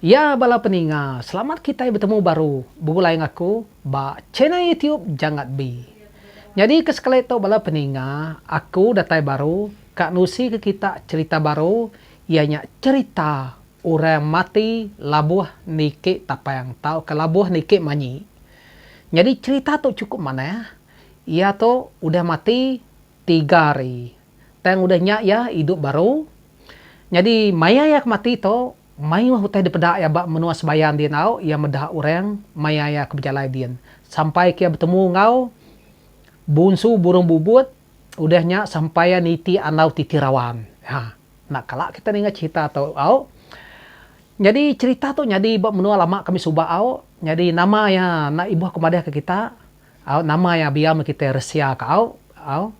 Ya bala peninga selamat kitai betemu baru begulai enggau aku ba channel YouTube Janggat Bi. Nyadi ke sekali tu bala peninga aku datai baru ka nusi ke kita cherita baru iya nya cherita orang mati labuh niki tapang tau ka labuh niki manyi. Nyadi cherita tu cukup manah iya tu udah mati tiga hari Tang udah nya iya idup baru. Nyadi maya iya ke mati tu, mayuh utai dipeda iya ba menua Sebayang di enggau iya meda orang maya iya ke bejalai din sampai ke iya betemu enggau Bunsu Burung Bubut udah nya sampai iya niti andau ti Tirawan. Ha enda kala kita ninga cherita tu au. Nyadi cherita tu nyadi ba menua lama kami suba au. Nyadi nama iya enda ibuh ke madahka kita au nama iya biau meh kita Resia ka au au.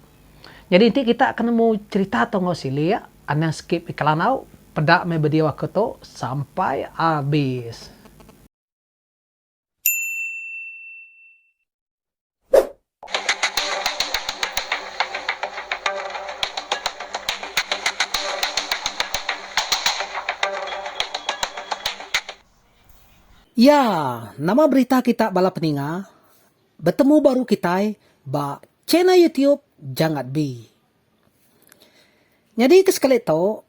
Nyadi enti kita ke nemu cerita tu enggau silik, anang skip iklan au, peda meh video aku tu sampai abis. Iya, nama berita kita bala peninga? Betemu baru kitai ba. Channel YouTube Jangat Bi. Nyadi ke sekali tu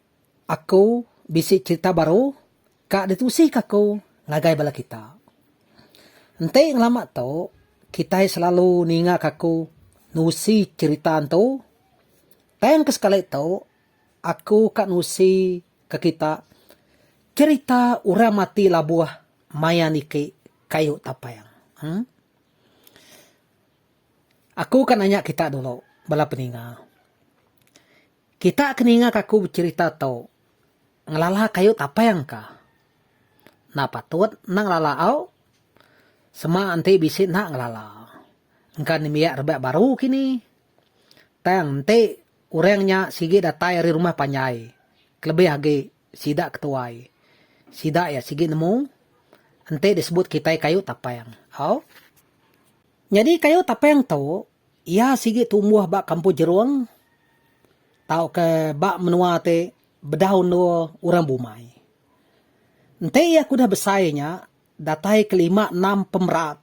aku bisi cherita baru ka ditusi ka aku ngagai bala kita. Enti ngelama tu kitai selalu ninga ka aku nusi cherita entu tang ke sekali tu aku ka nusi ka kita cherita orang mati labuh maya niki kayu tapang. Uhmm. Aku ka nanya kita dulu, bala peninga. Kita ke ninga ka aku becherita tu, ngelala kayu tapang ka? Enda patut enda ngelala au. Sema enti bisi enda ngelala. Engka nembiak rebak baru kini. Tang enti orang nya sigi datai ari rumah panjai, kelebih agi sida ke tuai, sida iya sigi nemu enti disebut kitai kayu tapang. Au. Nyadi kayu Tapeng tu, iya sigi tumbuh ba kampung Jerung tauka ba menua ti bedau endur orang bumai. Enti iya ke udah besai nya, datai ke lima enam pemerat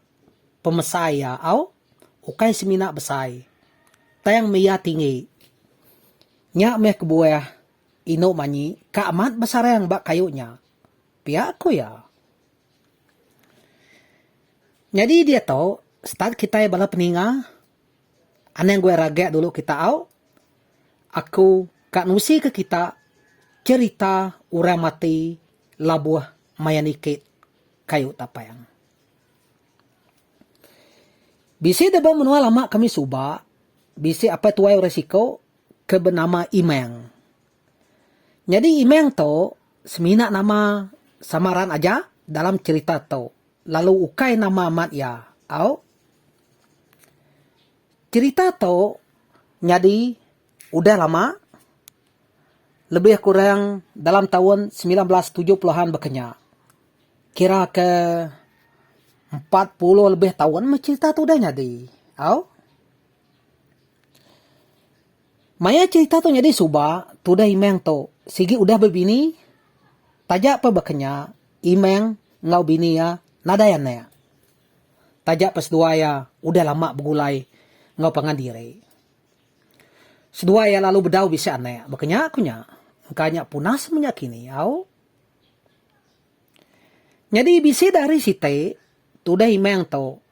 pemesai iya au ukai semina besai tang meh iya tinggi. Nya meh kebuah Inu Manyi ka amat besarang ba kayu nya, pia ku iya. Nyadi diatu start kitai bala peninga anang gua ragak dulu kita au aku ka nusika kita cerita orang mati labuh maya niki kayu tapang. Bisi da ba menua lama kami suba bisi apai tuai orang siko ke benama Imang. Nyadi imang tu semina nama samaran aja dalam cherita tu lalu ukai nama amat iya au. Cherita tu nyadi udah lama lebih kurang dalam taun semilan belas tujuh puluhan bakanya. Kira ke empat puluh lebih taun meh cherita tu udah nyadi au. Maya cherita tu nyadi suba, tudah Imeng tu sigi udah bebini. Taja peh baka nya, Imeng enggau bini iya nadai anak. Taja peh seduai iya udah lama begulai enggau pangan diri. Seduai iya lalu bedau bisi anak, baka nya ku nya, engka nya punah semenya kini au. Nyadi bisi dah hari siti, tudah Imeng tu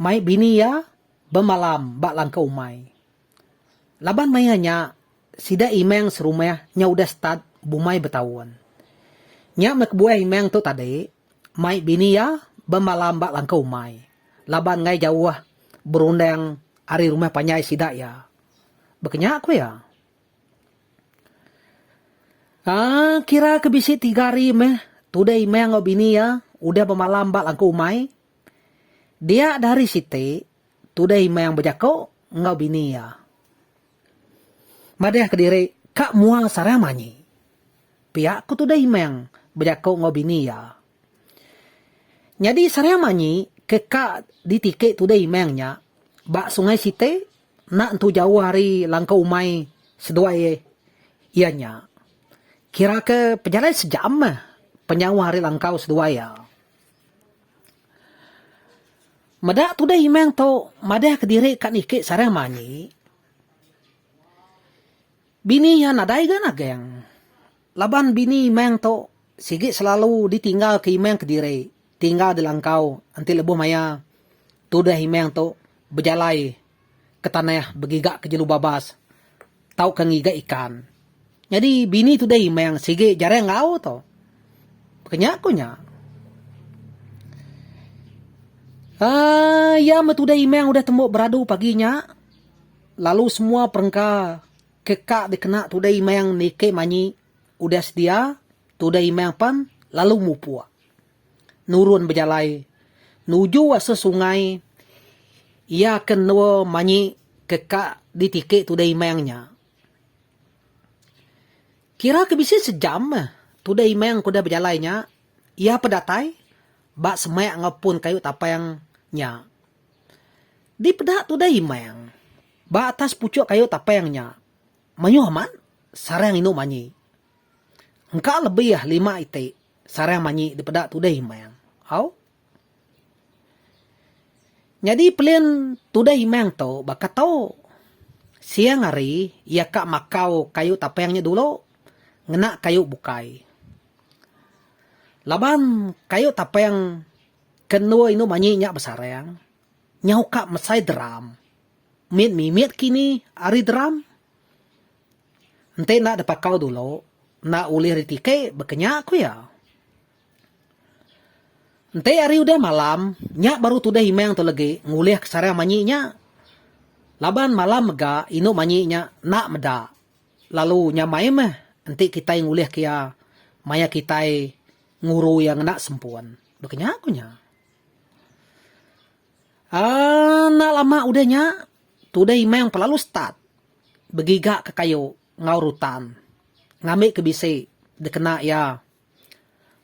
mai bini iya bemalam ba langkau umai. Laban maya nya, sida imang serumah nya udah start bumai betaun. Nya meh kebuah imang tu tadi mai bini iya bemalam ba langkau umai laban enggai jauh berundang ari rumah panjai sida iya. Baka nya ku iya. Aa kira ke bisi tiga hari meh tudah imang enggau bini iya udah bemalam ba langkau umai. Dia dah hari siti, Today Meang bejako enggau bini iya. Madahka diri ka mua sarang manyi. Pia ku Today Meang bejako enggau bini iya. Nyadi sarang manyi ke ka ditiki Today Meang nya ba Sungai Siti enda entu jauh ari langkau umai seduai iya nya. Kiraka pejalai sejam meh penyauh ari langkau seduai iya. Meda tudah imang tu madahka diri ka niki sarang manyi. Bini iya nadai ga nagang laban bini imang tu sigi selalu ditinggal ke imang kediri tinggal di langkau enti lebuh maya tudah imang tu bejalai. ke tanah begiga ke jelu babas tauka ngiga ikan. Nyadi bini tudai meh sigi jari enggau tu. Ke nya ku nya. Aaa iya meh tudai meh udah tembu beradu pagi nya lalu semua perengka ke ka dikena tudai meh niki manyi udah sedia tudai meh pan lalu mupuk. nurun bejalai nuju asa sungai iya ke endur manyi ke ka ditiki Tudai Imang nya. Kira ke bisi sejam meh Tudai Imang ke udah bejalai nya iya peh datai ba semak enggau pun kayu tapang nya. Dipeda Tudai Imang ba atas puchuk kayu tapang nya mayuh amat sarang indu manyi. Engka lebih lima iti. Sarang manyi dipeda Tuday Imang. Au. Nyadi pelin Tuday Imang tu baka tu. Siang hari iya ka makau kayu tapang nya dulu ngena kayu bukai. Laban kayu tapang ke endur indu manyi nya besarang, nyau ka mesai drum. Mit mimit kini ari drum. Enti enda dipakau dulu, enda ulih ditiki baka nya, ku iya. Enti ari udah malam, nya baru tudah imang tu legi ngulihka sarang manyi nya. Laban malam mega indu manyi nya enda meda lalu nyamai meh enti kitai ngulihka iya maya kitai nguru iya ngena sempun, baka nya, ku nya. Aaa enda lama udah nya, tudah imang pelalu start. begigaka kayu enggau rutan ngambika bisi dikena iya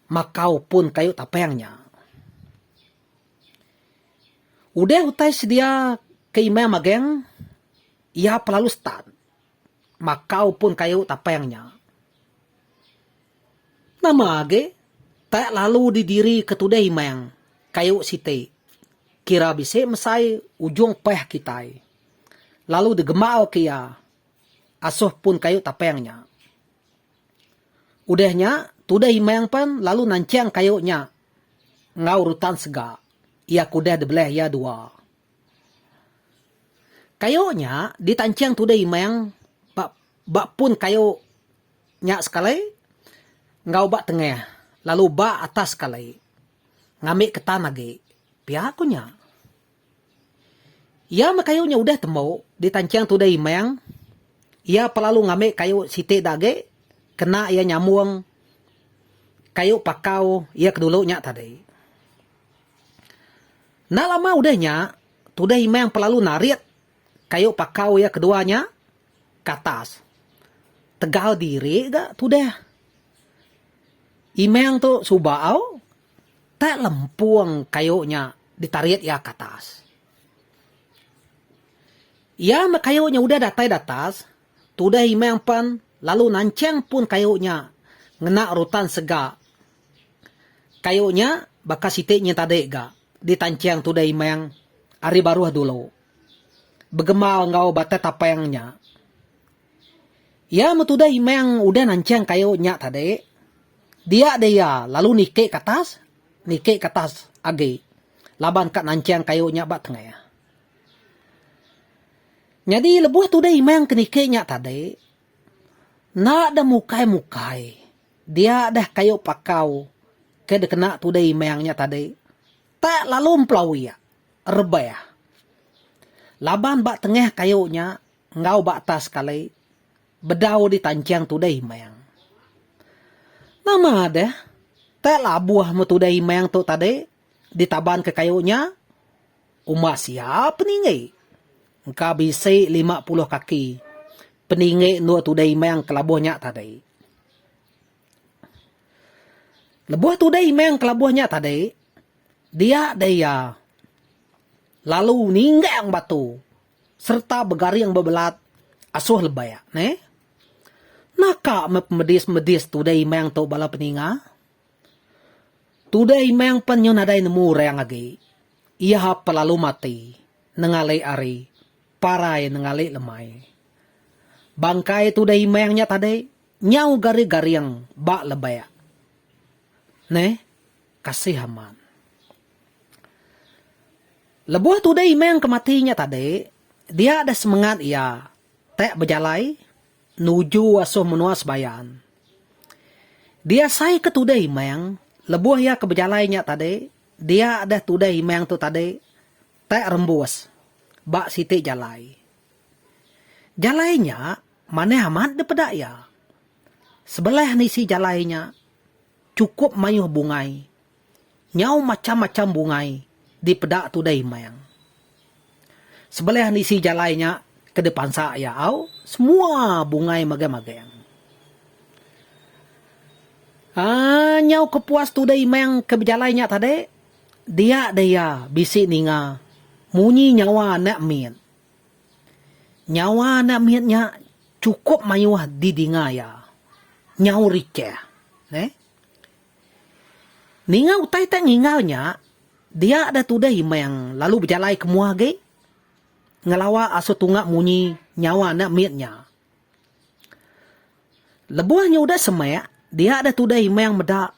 makau pun kayu tapang nya. Udah utai sedia ke imam magang, iya pelalu start makau pun kayu tapang nya. Nama agi tak lalu didirika tudah imam kayu siti kira bisi mesai ujung pah kitai. lalu digemauka iya asoh pun kayu tapang nya. Udah nya, tudah Imang pen lalu nanchang kayu nya enggau rutan sega iya ke udah dibelah iya dua. Kayu nya ditanchang tudah Imang ba ba pun kayu nya sekali enggau ba tengah lalu ba atas sekali ngambi ketan agi. Pia ku nya. Iya meh kayu nya udah tembu ditanching tudah imang, iya pelalu ngambi kayu siti da agi kena iya nyambung kayu pakau iya ke dulu nya tadi. Enda lama udah nya tudah imang pelalu narit kayu pakau iya ke dua nya ke atas. Tegal diri ga tudah imang tu suba au Teh lempung kayu nya ditarit iya ke atas. Iya meh kayu nya udah datai datas, tudah Imang pen lalu nanchang pun kayu nya ngena rutan sega. Kayu nya baka siti nyin tadi ga ditanchang tudah Imang ari baruh dulu. Begemal enggau batai tapang nya. Iya metudah imang udah nanchang kayu nya tadi. Dia deh iya lalu niki ke atas, niki ke atas agi laban ka nanchang kayu nya ba tengah. Nyadi lebuh tudah imang ke niki nya tadi, enda deh mukai-mukai. Dia deh kayu pakau ke dikena tudah imang nya tadi. Tak lalu empelawi iya, rebah. Laban ba tengah kayu nya. enggau ba atas sekali bedau di tanchang Tudah Imang. Nama deh tak labuh meh Tudah Imang tu tadi ditaban ke kayu nya? Uma sia peninggi. Engka bisi lima puluh kaki peninggi endur Tudah Imang ke labuh nya tadi. Lebuh Tudah Imang ke labuh nya tadi, dia deh iya lalu ninggang batu sereta begaring bebelat asuh lebek neh. Naka meh pemedis-medis tude imang tu bala peninga? Tude imang pen nyu nadai nemu orang agi. Iya pe lalu mati nengalik ari parai nengalik lemai. Bangkai tude imang nya tadi nyau gari-garing ba lebek neh. Kasih amat. Lebuh tude Imang ke mati nya tadi, dia deh semengat iya tek bejalai nuju asuh menua Sebayan. Diasai ke tude Imang, lebuh iya ke bejalai nya tadi, dia deh tude Imang tu tadi tek rembus ba siti jalai. Jalai nya manih amat dipeda iya. Sebelah nisi jalai nya Chukup mayuh bungai. Nyau macham-macham bungai dipeda tudai Mang. Sebelih nisi jalai nya ke dipansa iya au, semua bungai mageng-mageng. Aaa nyau ke puas tudai Mang ke bejalai nya tadi, dia deh iya bisi ninga munyi nyawa anak mit. Nyawa anak mit nya Chukup mayuh didinga iya, nyaur Ichah. Neh. Ninga utai ti ninggal nya, dia deh tudah Imang lalu bejalai ke mua agi ngelawa asu tunga munyi nyawa anak mit nya. Lebuh nya udah semak, dia deh tudah Imang meda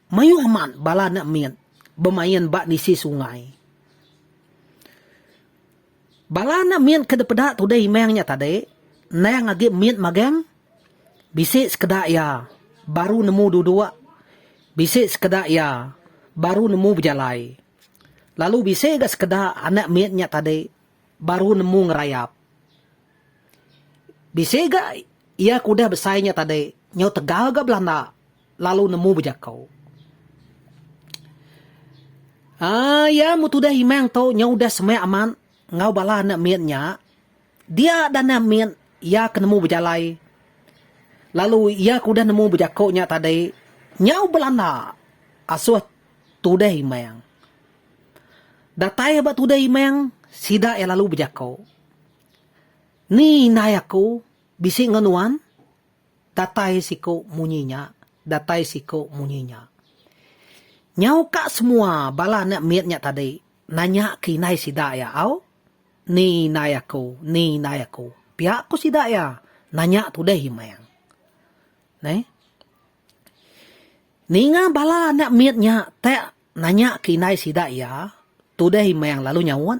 mayuh amat bala anak mit bemain ba nisi sungai. Bala anak mit ke dipeda tudah Imang nya tadi endang agi mit magang, bisi sekeda iya baru nemu duduk, bisi sekeda iya baru nemu bejalai lalu bisi ga sekeda anak mit nya tadi baru nemu ngerayap. Bisi ga iya ke udah besai nya tadi nyau tegal ga belanda. lalu nemu bejakau. Aa ya mu tudah imang tu nyau udah semak amat enggau bala anak mit nya dia dah anak mit ya ke nemu bejalai lalu ya ke udah nemu bejakau nya tadi nyau belanda asuh tudah imang. Datai ba tudah imang sida ya lalu bejakau. Ni indai aku bisi enggau nuan? Datai siku munyi nya, datai siku munyi nya. Nyau ka semua bala anak mit nya tadi nanya ke indai sida iya au, Ni indai aku, ni indai aku. Pia ku sida iya, Nanya tudih imang. Neh. Ninga bala anak mit nya tak nanya ke indai sida iya, tudih imang lalu nyaut.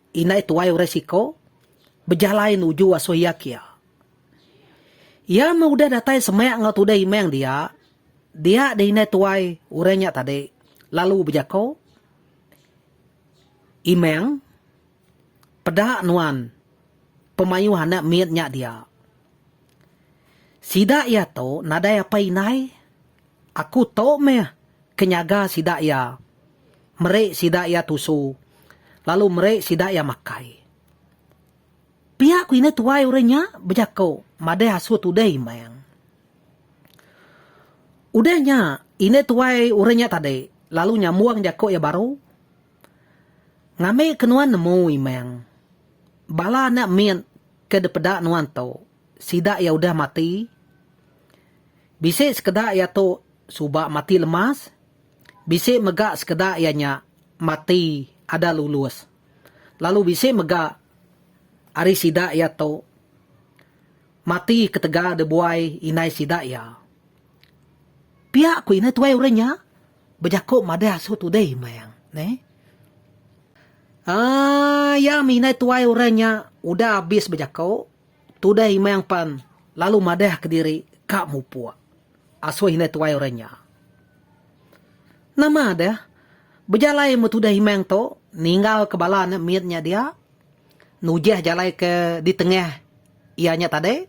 Indai tuai orang siko bejalai nuju asoh iya kia. Iya meh udah datai semak enggau tudah imang dia, dia deh indai tuai orang nya tadi lalu bejako, Imang, peda nuan pemayuh anak mit nya dia. Sida iya tu nadai apai indai, aku tu meh ke nyaga sida iya. Meri sida iya tusu, lalu meri sida iya makai. Pia ku indu tuai orang nya bejako madah asu tudah imang. Udah nya, indu tuai orang nya tadi lalu nyambung jako iya baru, Ngambika nuan nemu, imang, bala anak mit ke dipeda nuan tu, sida iya udah mati. Bisi sekeda iya tu suba mati lemas. Bisi mega sekeda iya nya mati ada lulus. Lalu bisi mega ari sida iya tu mati ketegal dibuai indai sida iya. Pia ku ina tuai orang nya bejaku madah asu tudih meh. Neh. Aaa iya meh indai tuai orang nya udah abis bejaku tudih meh pan lalu madah kediri ka mupuk. Asuh indai tuai orang nya. Nama deh. Bejalai meh tudah imang tu, ninggal ke bala anak mit nya dia. Nujah jalai ke di tengah iya nya tadi.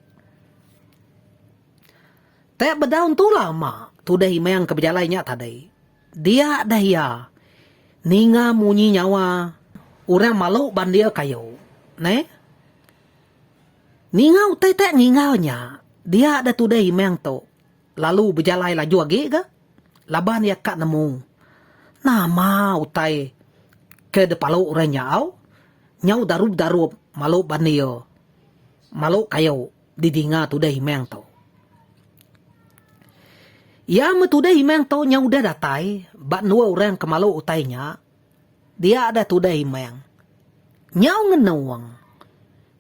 Tek bedau entu lama tudah imang ke bejalai nya tadi. Dia deh iya. Ninga munyi nyawa orang malu bandir kayu. Neh. Ninga utai te ninga nya, dia deh tudai imang tu lalu bejalai laju agi ga laban iya ka nemu nama utai ke dipalu orang nyau nyau darup-darup malu bandir malu kayu didinga tudai imang tu. Iya meh tudai imang tu nyau udah datai ba endur orang ke malu utai nya, Dia deh tudah imang. Nyau ngenung.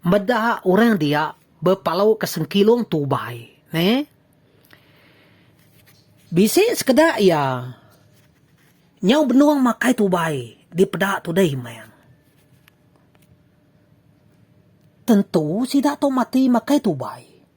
Meda orang dia bepalu ke sengkilung tubai. Neh. Bisi sekeda iya. Nyau benung makai tubai dipeda tudah imang. Tentu sida tu mati makai tubai.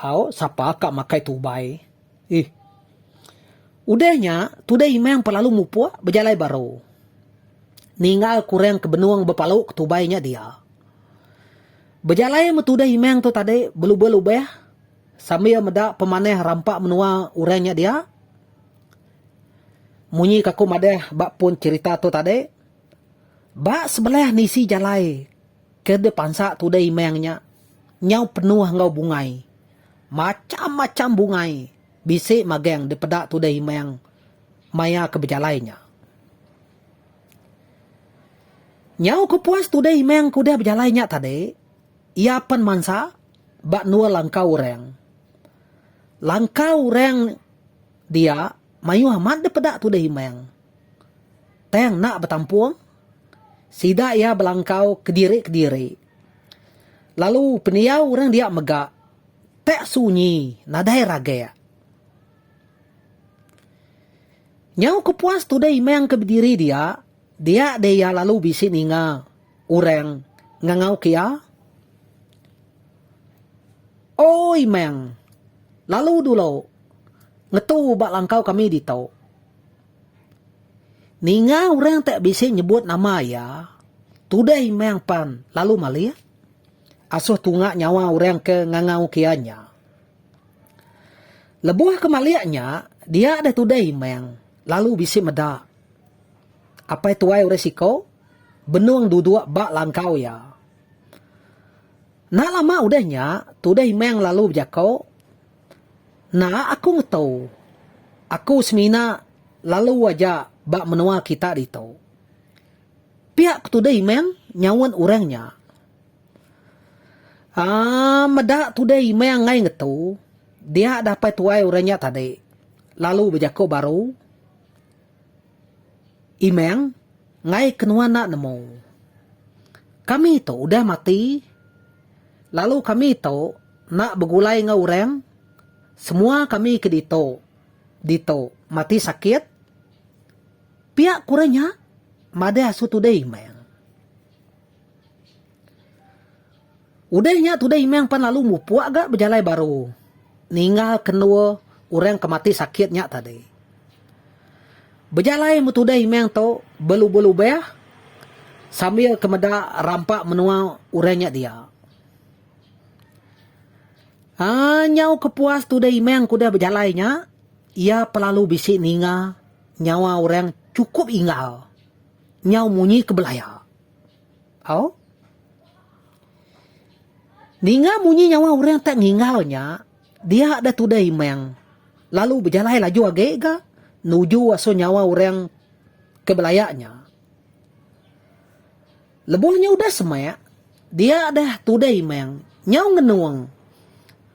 Au, sapa ka makai tubai. Ih. Udah nya, tudah imang pa lalu mupuk bejalai baru. Ninggal ku orang ke benung bepalu ke tubai nya dia. Bejalai meh tudah imang tu tadi belubah-lubah sambil meda pemanah rampa menua orang nya dia. Munyi ka ku madah ba pun cherita tu tadi, ba sebelah nisi jalai. Ke dipansa tude imang nya nyau penuh enggau bungai. Macham-macham bungai bisi magang dipeda tude imang maya ke bejalai nya. Nyau ke puas tude imang ke udah bejalai nya tadi, iya pen mansa ba endur langkau orang. Langkau orang dia mayuh amat dipeda tude imang. Tang enda betampung Sida iya belangkau kediri-kediri. Lalu pendiau orang dia mega pek sunyi nadai ragek. Nyau ke puas tudah Imang ke bediri dia, dia deh iya lalu bisi ninga orang ngangau ke iya. O Imang, lalu dulu ngetu ba langkau kami ditu. Ninga orang tak bisi nyebut nama iya, tudah imang pan lalu malik, asuh tunga nyawa orang ke ngangau kia nya. Lebuh ke malik nya, dia deh tudah imang lalu bisi meda. Apai tuai orang siko, benung duduk ba langkau iya. Enda lama udah nya, tudah imang lalu bejako. Enda aku ngetu. Aku semina lalu aja ba menua kita ditu. Pia ku tudai Imang nyaut orang nya. Aaa meda tudai Imang ai ngetu dia dappai tuai orang nya tadi lalu bejaku baru. Imang, Ngai ke nuan enda nemu. Kami tu udah mati lalu kami tu enda begulai enggau orang, semua kami ke ditu ditu mati sakit. Pia ku orang nya madah asu tudai Imang. Udah nya tudah Imang pan lalu mupuk ga bejalai baru ninggal ke endur orang ke mati sakit nya tadi. Bejalai meh tudah Imang tu belubah-lubah sambil ke meda rampa menua orang nya dia. Aaa nyau ke puas tudah Imang ke udah bejalai nya iya pelalu bisi ninga nyawa orang chukup inggal. Nyau munyi ke belaya. Au. Ninga munyi nyawa orang tak ninggal nya, dia deh tudah imang lalu bejalai laju agi ga nuju asu nyawa orang ke belaya nya. Lebuh nya udah semak, dia deh tudah imang nyau ngenung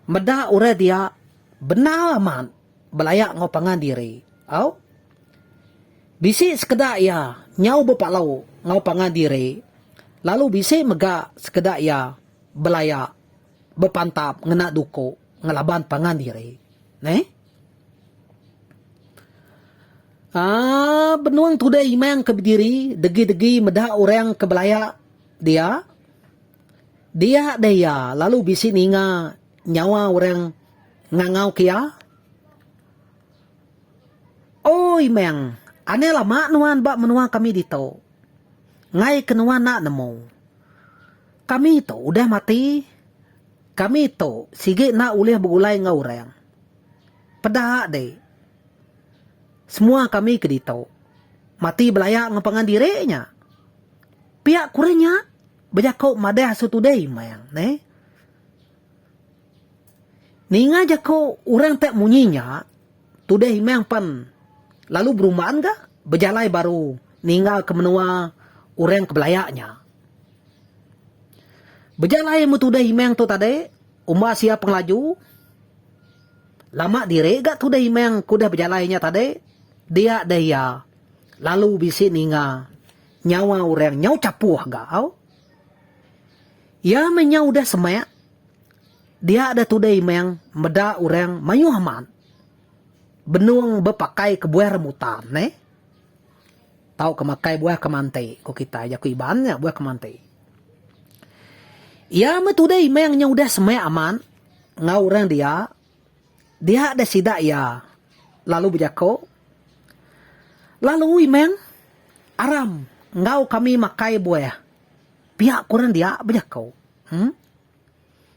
meda orang dia bendar amat belaya enggau pangan diri. Au. Bisi sekeda iya nyau bepalau enggau pangan diri lalu bisi mega sekeda iya belaya bepantap ngena duko ngelaban pangan diri. Neh. Aa benung tudai imang ke bediri degi-degi meda orang ke belaya dia. Dia deh iya lalu bisi ninga nyawa orang ngangau ke iya. Oi meng, anai lama nuan ba menua kami ditu. Ngai ke nuan enda nemu. Kami tu udah mati. Kami tu sigi enda ulih begulai enggau orang. Peda dik. Semua kami ke ditu mati belaya enggau pangan diri nya. Pia kurang nya bejako madah asu tudai meng neh. Ninga jaku orang tak munyi nya, tudah imang pan lalu berumban ga bejalai baru ninga ke menua orang ke belaya nya. Bejalai meh tudah imang tu tadi umba sia pengelaju lama diri ga tudah imang ke udah bejalai nya tadi dia deh iya lalu bisi ninga nyawa orang nyau chapuh ga au. Iya menyau udah semak, dia da tudai meng meda orang mayuh amat benung bepakai kebuah rambutan neh tauka makai buah kemanti ku kitai jaku Iban nya buah kemanti. Iya meh tudai meng nya udah semak amat enggau orang dia, dia da sida iya lalu bejaku, Lalu imeng aram enggau kami makai buah. Pia ku orang dia bejako. Huh.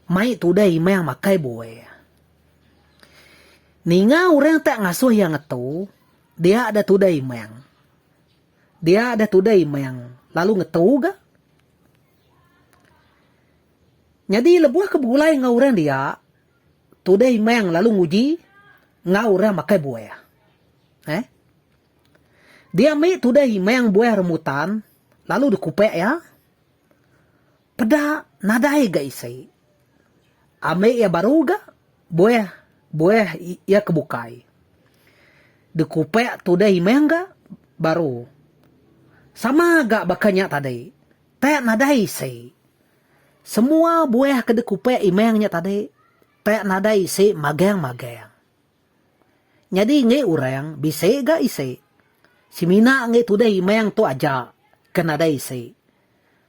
Mai tu udah imang makai bue. Ninga orang tak ngasuh iya ngetu, dia dah tudah imang. Dia dah tudah imang, lalu ngetu ga. Nyadi lebuh ke begulai enggau orang dia, tudah imang lalu nguji enggau orang makai bue. Eh. Diambi tudah imang buah rambutan lalu dikupak iya. Peda nadai ga isi. Ambi iya baru ga buah buah iya ke bukai. Dikupak tudah imang ga baru. Sama ga baka nya tadi. Tak nadai isi. Semua buah ke dikupak imang nya tadi tak nadai isi magang-magang. Nyadi enggi urang bisi ga isi. Semina enggi tudah imang tu aja ke nadai isi.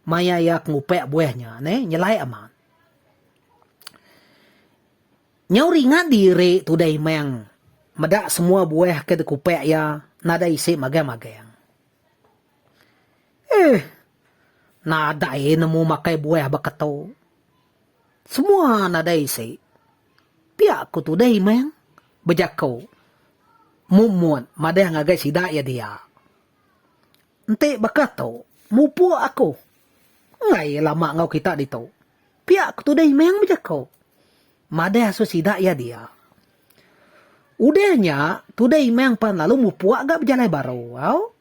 Maya iya ke ngupak buah nya neh nyelai amat. Nyau ringat diri tudah imang meda semua buah ke dikupak iya nadai isi magang-magang. Eeh nadai nemu makai buah baka tu. Semua nadai isi. Pia ku tudai meh bejako Mumut madah ngagai sida iya dia. Enti baka tu mupuk aku enggai lama enggau kita ditu. Pia ku tudai meh bejako madah asu sida iya dia. Udah nya tudai meh pan lalu mupuk ga bejalai baru au.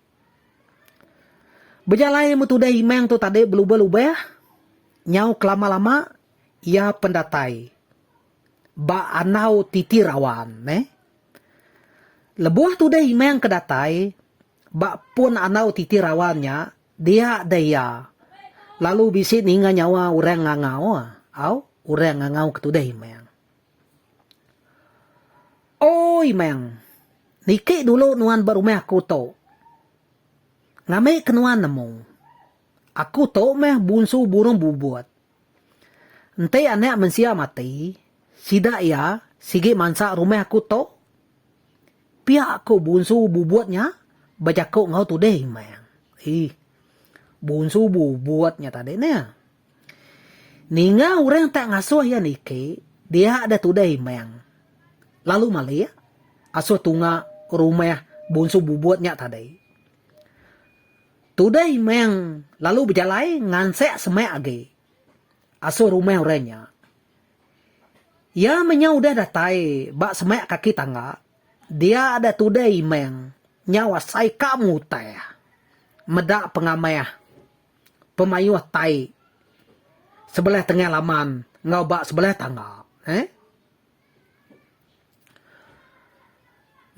Bejalai meh tudah Imang tu tadi belubah-lubah, nyau kelama-lama iya pen datai ba andau titi rawan neh. Lebuh tudah Imang ke datai ba pun andau titi rawan nya, dia deh iya lalu bisi ninga nyawa orang ngangau au orang ngangau ke tudah Imang. Oi Meng. Niki dulu nuan ba rumah aku tu. Ngambika nuan nemu. Aku tu meh bunsu burung bubut. Enti anak mensia mati, sida iya sigi mansa rumah aku tu? Pia ku bunsu bubut nya bejaku enggau Tuding Meng. Ih. Bunsu bubut nya tadi neh. Ninga orang tak ngasuh iya niki, dia ada tudah imang. Lalu malik, asuh tunga rumah bunsu bubut nya tadi. Tudah imang lalu bejalai ngansak semak agi. Asuh rumah orang nya. Iya menyau udah datai ba semak kaki tangga, dia ada tudah imang nyau asai ka mutah. Meda pengamah. pemayuh tai sebelah tengah laman enggau ba sebelah tangga. He.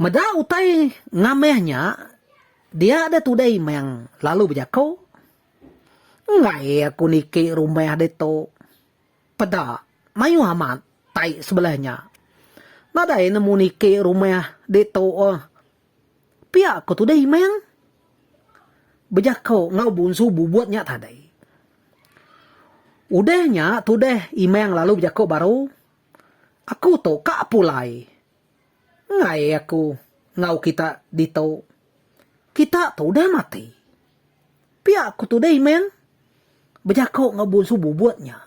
Meda utai ngamih nya dia deh tudai meng lalu bejaku. Enggai aku niki rumah ditu. Peda mayuh amat tai sebelah nya. Nadai nemu niki rumah ditu. Pia ko Tudai Imang bejako enggau Bunsu Bubut nya tadi. Udah nya Tudai Imang lalu bejako baru, Aku tu ka pulai. Enggai aku enggau kita ditu. Kita tu udah mati. Pia ko Tudai Imang bejako enggau Bunsu Bubut nya.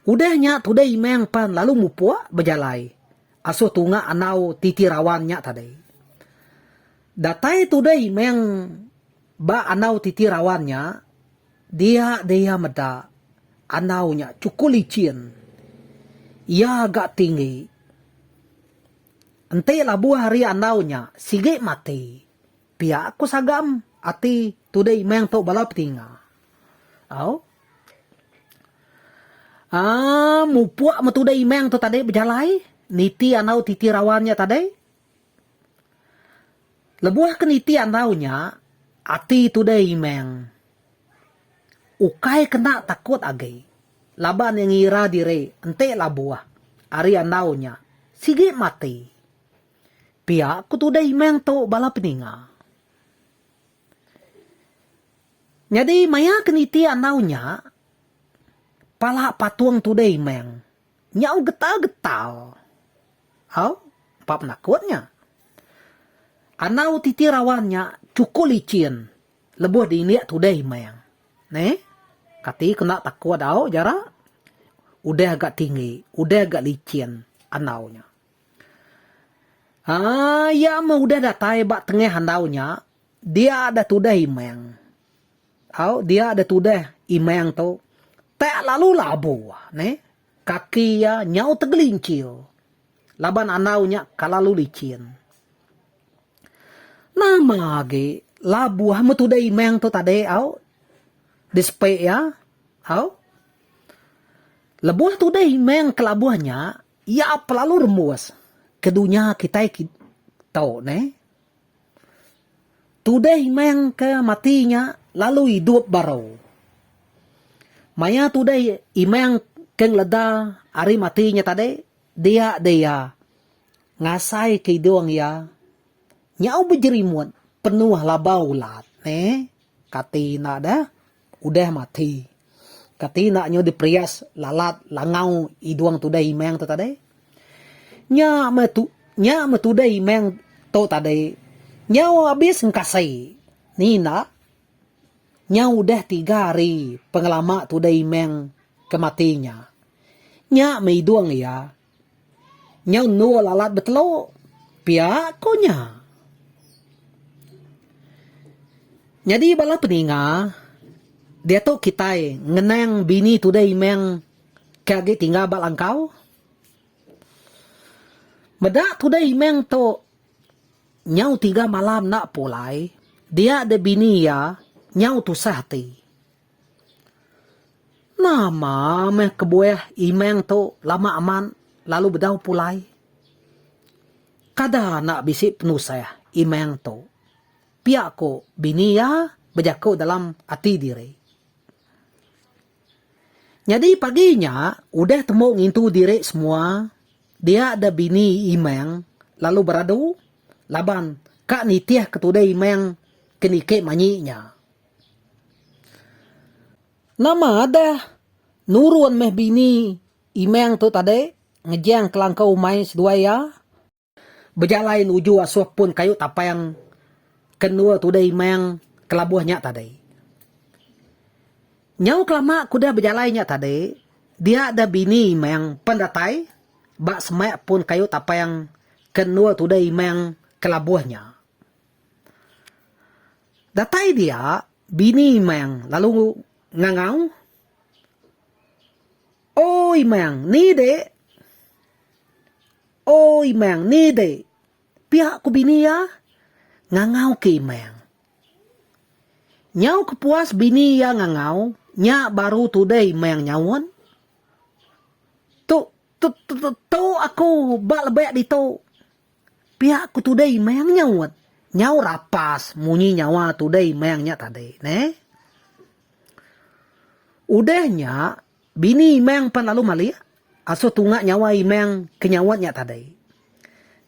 Udah nya tudah Imang pan lalu mupuk bejalai asuh tunga andau titi rawan nya tadi. Datai tudah Imang ba andau titi rawan nya, dia deh iya meda andau nya chukup lichin. Iya ga tinggi. Enti labuh ari andau nya sigi mati. Pia ku Sagam ati tudai meh entu bala petinga. Au. Aa mupuk me tudai meh tu tadi bejalai niti andau titi rawan nya tadi. Lebuh ke niti andau nya ati tudai meh ukai kena takut agi laban iya ngira diri enti labuh ari andau nya sigi mati. Pia ku tudah imang tu bala peninga. Nyadi maya ke niti andau nya, pala patung tudah imang nyau getal-getal. Au, empa penakut nya. Andau titi rawan nya chuku lichin lebuh diindik tudah imang. Neh, kati ke enda takut au, Jara? Udah ga tinggi, udah ga lichin andau nya. Haa iya meh udah datai ba tengah andau nya dia deh tudah imang au dia deh tudah imang tu tak lalu labu neh kaki iya nyau tegelincir laban andau nya kelalu licin nama agi labuh meh tudah imang tu tadi au di sepe iya au lebuh tudah imang ke labuh nya. Iya pelalu rembus ke dunya kitai tu neh. Tudeh imang ke mati nya lalu idup baru. Maya tudeh imang ke ngeleda ari mati nya tadi dia deh iya ngasai ke idung iya nyau bejerimut penuh labau ulat neh. Kati enda deh. udah mati. Kati enda nyau diperias lalat langau idung tudai imang tu tadi? Nya meh tu nya meh tudai imang tu tadi nyau abis engkasi. Ni enda? Nyau udah tiga hari pengelama tudai imang ke mati nya. Nya meh idung iya. Nyau endur lalat betelu, pia ko nya. Nyadi bala peninga, diatu kitai ngenang bini Tudai Imang ke agi tinggal ba Langkau. Meda Tudai Imang tu nyau tiga malam enda pulai, dia dek bini iya nyau tusah ati. Nama meh kebuah imang tu lama amat lalu bedau pulai. Kada enda bisi penusah imang tu. Pia ku bini iya bejaku dalam ati diri. Nyadi pagi nya udah tembu ngintu diri semua dia da bini imang lalu beradu laban ka nitih ke tude imang ke niki manyi nya. Nama adah nurun meh bini Imang tu tadi ngejang kelangkau umai seduai iya? Bejalai nuju asuh pun kayu tapang ke endur tudah Imang kelabuh nya tadi. Nyau kelama ke udah bejalai nya tadi, dia deh bini Imang pen datai ba semak pun kayu tapang ke endur tudah Imang kelabuh nya. Datai dia bini Imang lalu ngangau, O Imang, ni dek? O Imang, ni dek? Pia ku bini iya ngangau ke Imang. Nyau kepuas bini iya ngangau, nya baru tude Imang nyaut, Tu, tu, tu, tu aku ba lebek ditu. Pia ku tudai mayang nyaut. Nyau rapas munyi nyawa tudai mayang nya tadi neh. Udah nya bini imang pan lalu malik asuh tunga nyawa imang ke nyaut nya tadi.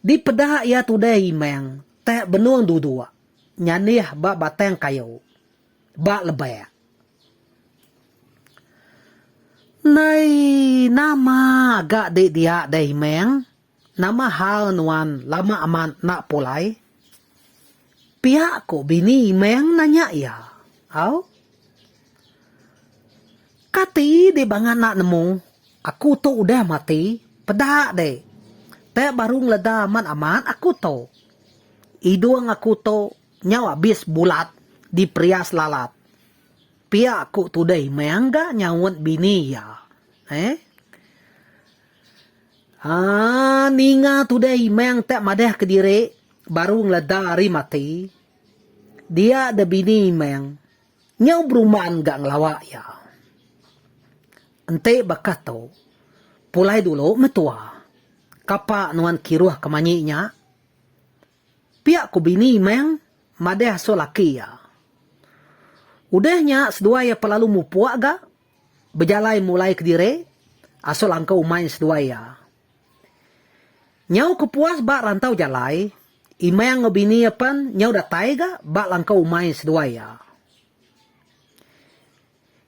Dipeda iya tudai imang tak benung duduk nyanih ba batang kayu ba lebak. Nai nama ga dek dia deh imang. Nama hal nuan lama amat enda pulai? pia ku bini Imeng nanya iya. Au. Kati dek bangat enda nemu, aku tu udah mati, peda dek. Te baru ngeleda amat amat aku tu. Idung aku tu nyau abis bulat di perias lalat. Pia ku tude Imeng ga nyaut bini iya. Eeh. Haa ninga tudai meng te madah kediri baru ngeleda ari mati. Dia de bini meng nyau beruman ga ngelawa iya. Enti baka tu pulai dulu meh tua. Kapa nuan kiruh ke manyi nya. Pia ku bini meng madah asu laki iya. Udah nya seduai iya pelalu mupuk ga. bejalai mulai kediri asal angka umai seduai iya. Nyau ke puas ba rantau jalai, Imang enggau bini iya pen nyau datai ga ba langkau umai seduai iya.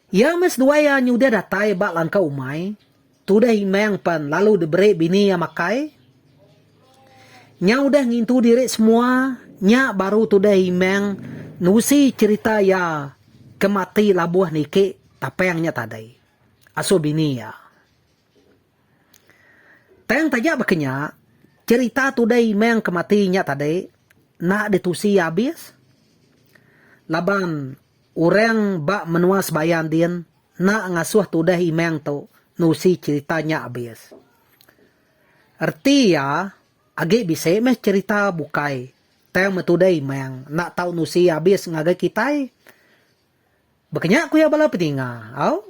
Iya meh seduai iya nyudah datai ba langkau umai Tudah Imang pan lalu diberi bini iya makai. Nya udah ngintu diri semua, nya baru tudah Imang nusi cherita iya ke mati labuh niki tapang nya tadi asuh bini iya. Tang taja baka nya, cherita tudah Imang ke mati nya tadi enda ditusi iya abis laban orang ba menua sebaya ndin, Enda ngasuh tudah imang tu nusi cherita nya abis. Reti iya, agi bisi meh cherita bukai tang meh tudah imang enda tau nusi iya abis ngagai kitai. Baka nya ku iya bala peninga, au.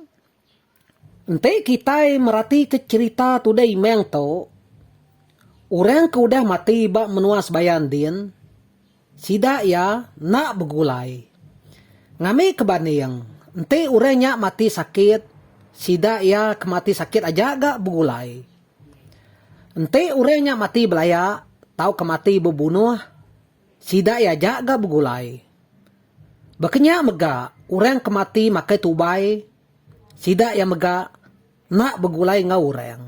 Enti kitai meratika cherita tudah imang tu, orang ke udah mati ba menua sebaya ndin, Sida iya enda begulai. Ngambika banding, enti orang nya mati sakit, sida iya ke mati sakit aja ga begulai. Enti orang nya mati belaya tauka mati bebunuh, sida iya aja ga begulai. Baka nya mega orang ke mati makai tubai, sida iya mega Enda begulai enggau orang.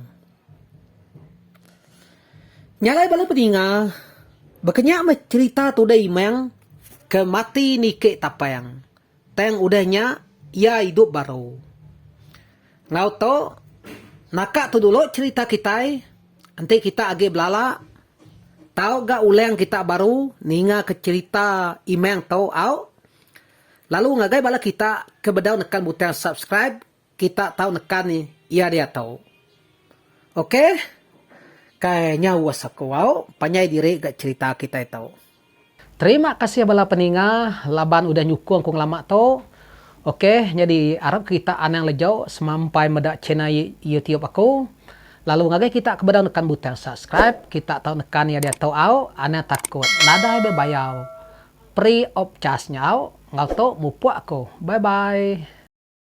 Nyagai bala peninga, bekenya meh cherita tuda Imang ke mati niki Tapang, tang udah nya iya idup baru. Enggau tu, naka tu dulu cherita kitai enti kita agi belala tau ga ulang kita baru ninga ke cherita Imang tu au. Lalu ngagai bala kita ke bedau nekan butang subscribe. Kita tau neka ni iya diatu. Ok. Kai nya uss aku au panjai diri ga cerita kitai tu. Terima kasih bala peninga laban udah nyukung ku ngelama tu. Ok nyadi arap kita anang lejau semampai meda channel YouTube aku. Lalu ngagai kita ke bedau nekan butang subscribe kita tau nekan iya diatu au anang takut nadai be bayau. Free of charge nya au. Enggau tu mupuk aku. Bye bye.